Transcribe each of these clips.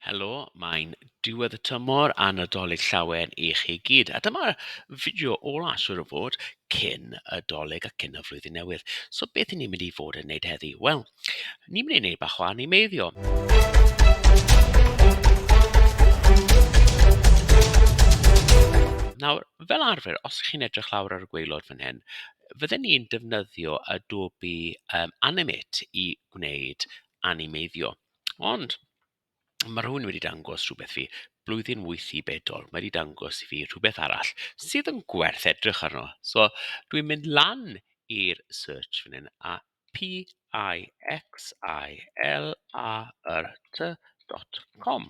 Helo, mae'n diwedd y tymor a Nadolig llawen i chi gyd. A dyma'r fideo ola, siwr o fod, cyn y doleg a cyn y flwyddyn newydd. So beth ni'n mynd i fod yn neud heddi? Wel, ni'n mynd i neud bach o animeiddio. Nawr, fel arfer, os ych chi'n edrych lawr ar y gweilod fan hyn, fydden ni'n defnyddio Adobe um, Animate i gwneud animeiddio. Ond ma' rhywun wedi dangos rhywbeth fi, blwyddyn wyth i bedol, mae 'di dangos i fi rhywbeth arall sydd yn gwerth edrych arno. So dwi'n mynd lan i'r search fan hyn a P-I-X-I-L-A-R-T dot com.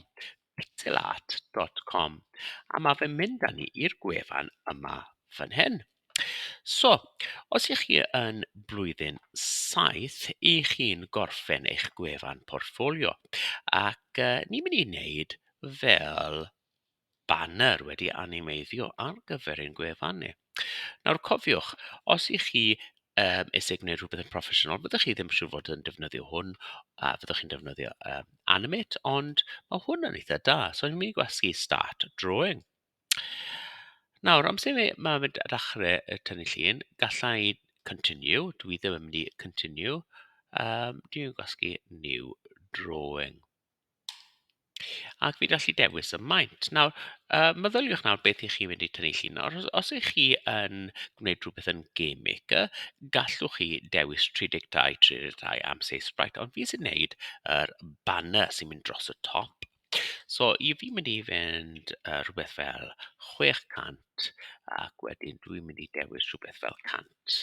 pixelart dot com a ma' fe'n mynd â ni i'r gwefan yma fan hyn. So, os y'ch chi yn blwyddyn saith, y'ch chi'n gorffen eich gwefan portffolio ac yy ni'n mynd i wneud fel banner wedi animeiddio ar gyfer ein gwefan ni. Nawr cofiwch, os y'ch chi yym isie gwneud rhywbeth yn broffesiynol, fyddwch chi ddim siŵr fod yn defnyddio hwn, a fyddwch chi'n defnyddio yym Animate, ond ma' hwn yn eitha da. So fi'n mynd i gwasgu Start Drawing. Nawr, amser i fi ma' fe d- dachre yy tynnu llun, galla i Continue, dwi ddim yn mynd i Continue, yym dwi'n gwasgu New Drawing. Ac fi'n gallu dewis y maint. Nawr yy meddyliwch nawr beth y'ch chi'n mynd i tynnu llun nawr. Os os y'ch chi yn gwneud rhywbeth yn Game Maker, gallwch chi dewis 32, 32 am size sprite, ond fi sy'n wneud yr banner sy'n mynd dros y top. So i fi mynd i fynd yy rhywbeth fel 600 ac wedyn dwi'n mynd i dewis rhywbeth fel 100.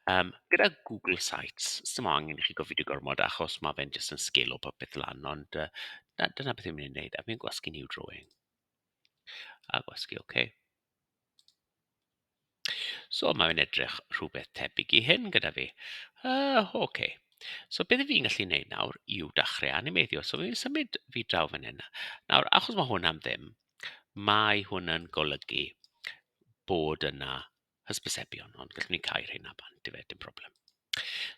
Yym gyda Google Sites, sdim angen i chi gofidi gormod achos ma' fe'n jyst yn sgilo popeth lan, ond yy na- dyna beth fi'n mynd i wneud, a fi'n gwasgu New Drawing, a gwasgu ok. So ma' fe'n edrych rhywbeth tebyg i hyn gyda fi. Yy ok. So beth 'y fi'n gallu wneud nawr yw dachre animeiddio, so fi'n symud fi draw fan hyn. Nawr achos ma' hwn am ddim, mae hwn yn golygu bod yna hysbysebion, ond gallwn ni cau'r hyn a bant, dyfe, dim problem.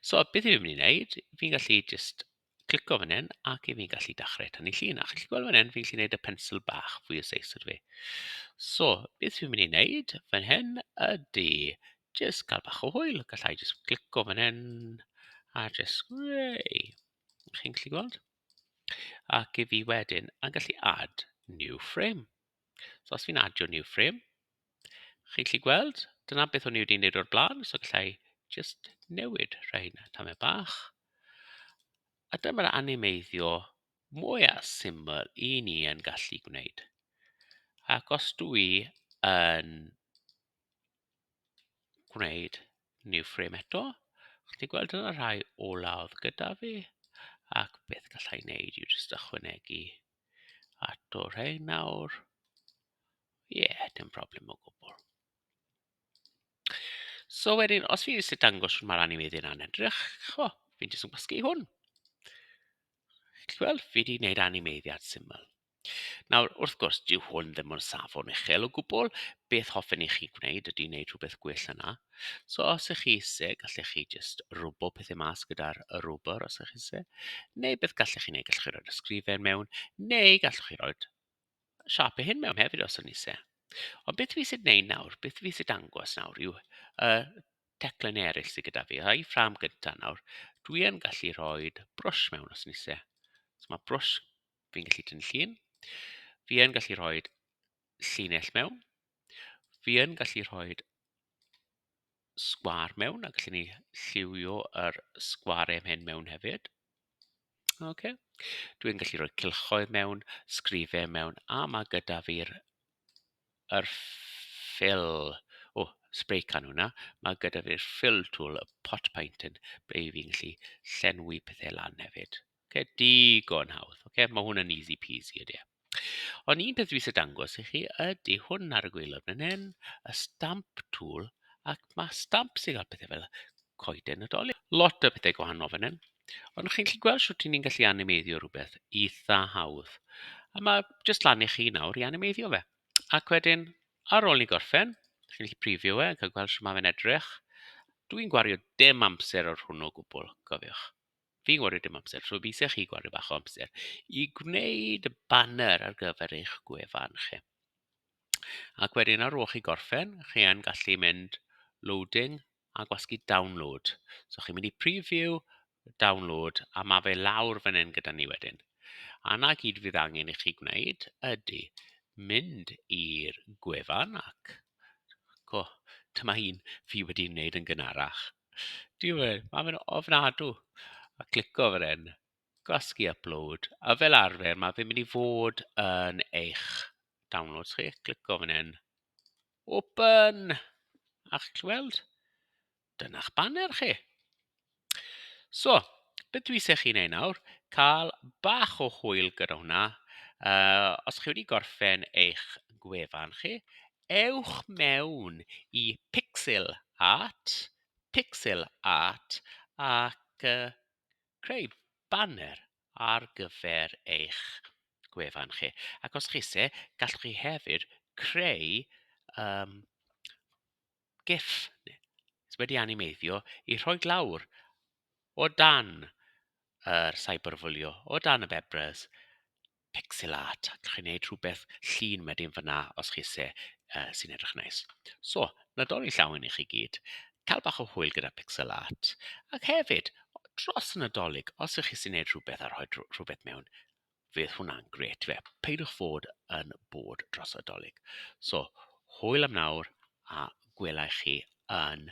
So, beth fi'n mynd i wneud, fi'n gallu just clico fan hyn ac i fi'n gallu dachrau tannu llun. A chi'n gweld fan hyn, fi'n gallu gwneud y pensl bach fwy o seis ydw fi. So, beth fi'n mynd i wneud fan hyn ydy just cael bach o hwyl. Gallai just clico fan hyn a just, yay, chi'n gallu gweld? Ac i fi wedyn, a gallu add new frame. So os fi'n adio new frame, Chi'n gallu gweld, dyna beth o'n i wedi wneud o'r blaen, so galla i jyst newid rhain tamed bach. A dyma'r animeiddio mwya syml i ni yn gallu gwneud. Ac os dw i yn gwneud new frame eto, chi'n gweld dyna rhai olaf gyda fi, ac beth gallai wneud yw jyst ychwanegu A to rhain nawr. Ie, yeah, dim problem o gwbl. So wedyn, os fi eisiau dangos sy'n mae'r animeiddiau yna'n edrych, o, fi'n jyst yn gwasgu hwn. Chi'n gweld, fi wedi gwneud animeiddiad syml. Nawr, wrth gwrs, dyw hwn ddim yn safon uchel o gwbl. Beth hoffen i chi gwneud ydy wneud rhywbeth gwell yna. So os ych chi isie, gallech chi jyst rwbl pethau mas gyda'r y rwbr os ych chi isie. Neu beth gallech chi wneud, gallech chi roi'r ysgrifen mewn, neu gallech chi roi'r siapau hyn mewn hefyd os yn isie. Ond beth fi eisiau gwneud nawr, beth fi eisiau dangos nawr yw y teclen eraill sydd gyda fi. A'i ffram gyntaf nawr, dwi yn gallu rhoi brwsh mewn os yn eisiau. So mae brwsh, fi'n gallu dyn llun. Fi yn gallu rhoi llinell mewn. Fi yn gallu rhoi sgwar mewn a gallen ni lliwio yr sgwar em hyn mewn hefyd. OK. Dwi'n gallu rhoi cylchoedd mewn, sgrifau mewn, a mae gyda fi'r yr fill. O, oh, spray can hwnna. Mae gyda fi'r fill tool, y pot paint yn, ble fi'n gallu llenwi pethau lan hefyd. Oce, digon hawdd. Oce, mae hwn yn easy peasy, ydy e. Ond un peth dwi eisiau dangos i chi ydy hwn ar y gwaelod fan hyn, y stamp tool, ac mae stamp sy'n cael pethau fel coeden y dolyn. Lot o bethau gwahanol fan hyn. Ond chi'n gallu gweld sut ni'n gallu animeiddio rhywbeth eitha hawdd. A mae jyst lan i chi nawr i animeiddio fe. Ac wedyn, ar ôl ni gorffen, chi'n gallu prifio fe, cael gweld sut mae fe'n edrych. Dwi'n gwario dim amser ar hwnnw o gwbl, cofiwch. Fi'n gwario dim amser, so fi isie chi gwario bach o amser i gwneud y banner ar gyfer eich gwefan chi. Ac wedyn ar ôl chi gorffen, chi yn gallu mynd loading a gwasgu download. So chi'n mynd i preview, download, a mae fe lawr fan hyn gyda ni wedyn. A na gyd fydd angen i chi gwneud ydy mynd i'r gwefan ac... Co, dyma un fi wedi wneud yn gynharach. Dyw e, mae fe'n ofnadw. A clico fan hyn, gwasgu upload, a fel arfer mae fe'n mynd i fod yn eich downloads chi. Clico fan hyn, open, a chi'n gallu weld, dyna'ch baner chi. So, beth dwi eisiau chi wneud nawr, cael bach o hwyl gyda hwnna. Uh, os chi wedi gorffen eich gwefan chi, Ewch mewn i Pixel Art, Pixel Art ac yy creu baner ar gyfer eich gwefan chi. Ac os chi isie, gallwch chi hefyd creu yym gif sy wedi animeiddio i rhoi lawr o dan yr cyberbwlio, o dan y bebrus. pixel art a chi'n neud rhywbeth llin wedyn fan'na os chi isie yy sy'n edrych yn neis. So, Nadolig llawn i chi gyd, cael bach o hwyl gyda pixel art, ac hefyd, dros y Nadolig, os ych chi sy'n neud rhywbeth a rhoi rhywbeth mewn, fydd hwnna'n gret fe. Peidiwch fod yn bod dros y Nadolig. So, hwyl am nawr a gwelai chi yn